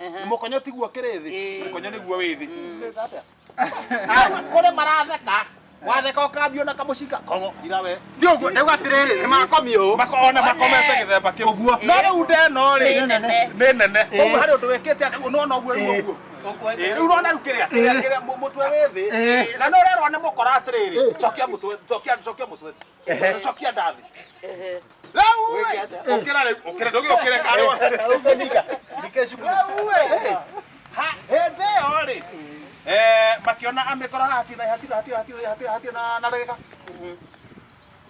nĩ mũkonyo tiguo kĩrĩ thĩ Ĩĩ. mũkonyo nĩguo wĩ thĩ kũrĩ maratheka watheka ũkambio na kamũcinga kongo ira we ti ũguo ndauga atĩrĩrĩ nĩ makomia ũũ Mako- ona makomete gĩthemba kĩu ũguo no rĩu ndeno rĩ Nĩ nene. nĩ nene ũguo harĩ ũndũ wĩkĩte atĩ no no guo Ĩĩ. ũguo Ĩĩ, rĩu urona rĩu kĩrĩa kĩrĩa- kĩrĩa mũ- mũtwe wĩ thĩ Ĩĩ. na nĩ ũrerwo nĩ mũkora atĩrĩrĩ cokia mũtwe cokia cokia mũtwe cokia ndathi Rĩu ĩ, ũkĩra rĩu, ũkĩra, ndũgĩ ũkĩre karĩ wa- hĩndĩ ĩyo rĩ eh, makĩona amĩkora hatirĩ na- hatirĩ- hatirĩ- hatirĩ- hatirĩ- hatirĩ na- na ndagĩka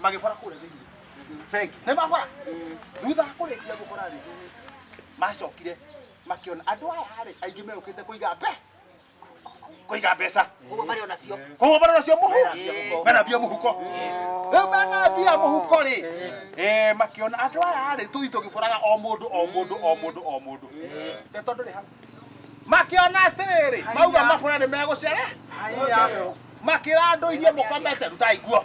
magĩbora kũrĩa thĩinĩ nĩ mabora thutha wa kũrĩkia gũkora rĩ macokire makĩona andũ aya rĩ aingĩ megũkĩte kũiga mbe kũiga mbeca koguo marĩ ona cio koguo bara nacio mũhu mena mbia mũhuko rĩu mena mbia mũhuko rĩ eh, makĩona andũ aya rĩ tũthi tũgĩbũraga o mũndũ o mũndũ o mũndũ o mũndũ nĩ tondũ rĩ hau makĩona atĩrĩrĩ mauga mabũra nĩ megũcere makĩra andũ iria mũkomete rutai nguo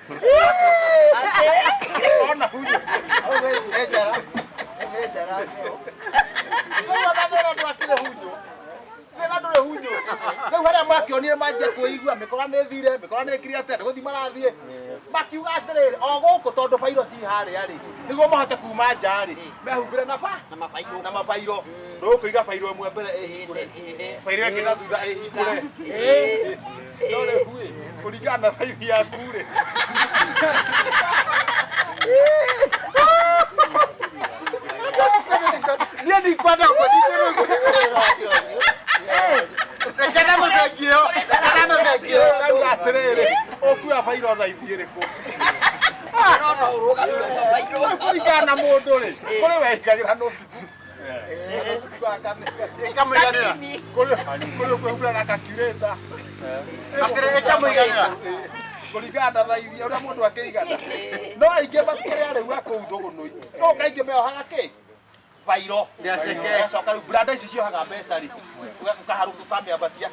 Ona huyo. Au wewe umeja la. Umeja la. Wewe unadhara ndo akile huyo. Wena ndore hunyo. Rĩu harĩa makĩonire manjia kwĩigua mĩkora nĩ thire mĩkora nĩ kiri atĩ gũthiĩ marathiĩ makiuga atĩrĩrĩ o gũkũ tondũ bairo ci harĩa rĩ nĩguo mahote kuma nja rĩ mehumbĩre na ba na mabairo na mabairo rũkũiga bairo ĩmwe mbere ĩhingũre bairo ĩngĩ na thutha ĩhingũre Ndore huĩ kũringana na thaithi yaku rĩ. Niĩ ndikwenda ũguo, ndikwenda ũguo. Reke na mũbengi ĩyo, reke na mũbengi ĩyo. Ndauga atĩrĩrĩ, ũkuua bairo thaithi ĩrĩkũ? Kũringana na mũndũ rĩ, kũrĩ wehingagĩra nũti kuringana na thaithi uria mundu akigana no aingi makuria riu akuu thugunui no kaingi meohaga ki vairo Nĩaceke. coka riu branda ici ciohaga mbeca ri ukaharuka ukamĩambatia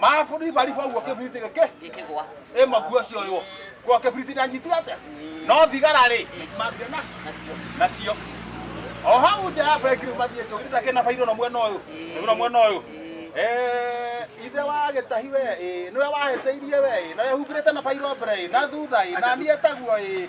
mabũrũri bari boguo kĩbiriti gĩkĩ gĩkĩgwa ĩ maguo ũcio ũyũ kwa kĩbiriti ndanyitire atĩa no thigara rĩ mambire na nacio nacio o hau nja ya bengiru mathiĩ njũgiri ta kĩna bairũ na mwena ũyũ na mwena ũyũ Eh, ithe wa gĩtahi we ĩ, nĩwe wahĩtĩirie we ĩ, na wehumbĩrĩte na bairũ mbere ĩ, na thutha ĩ, na niĩ taguo ĩ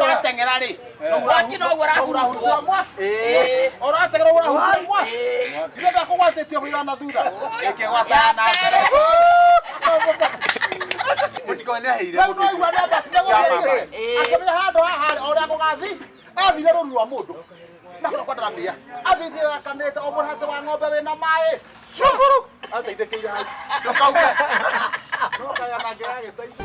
ũrateng'era rĩ mwaki noguo ũrahurutwo ũrateng'era ũguo ũrahurutwo mwaki ithe ndakũgwatĩtie mũira na thutha ĩkĩgwata na mbere mũtikoneheire mũndũ ũcio. akamenya handå haha å rä a gå gathiĩ athire rũru rwa mũndũ na kũrĩa kwataramĩa athithirakanĩte o mũrate wa ng'ombe wĩna maĩ cukuru ateithĩkĩire hau ndũkauge ndũkaya na ngĩra gĩtaici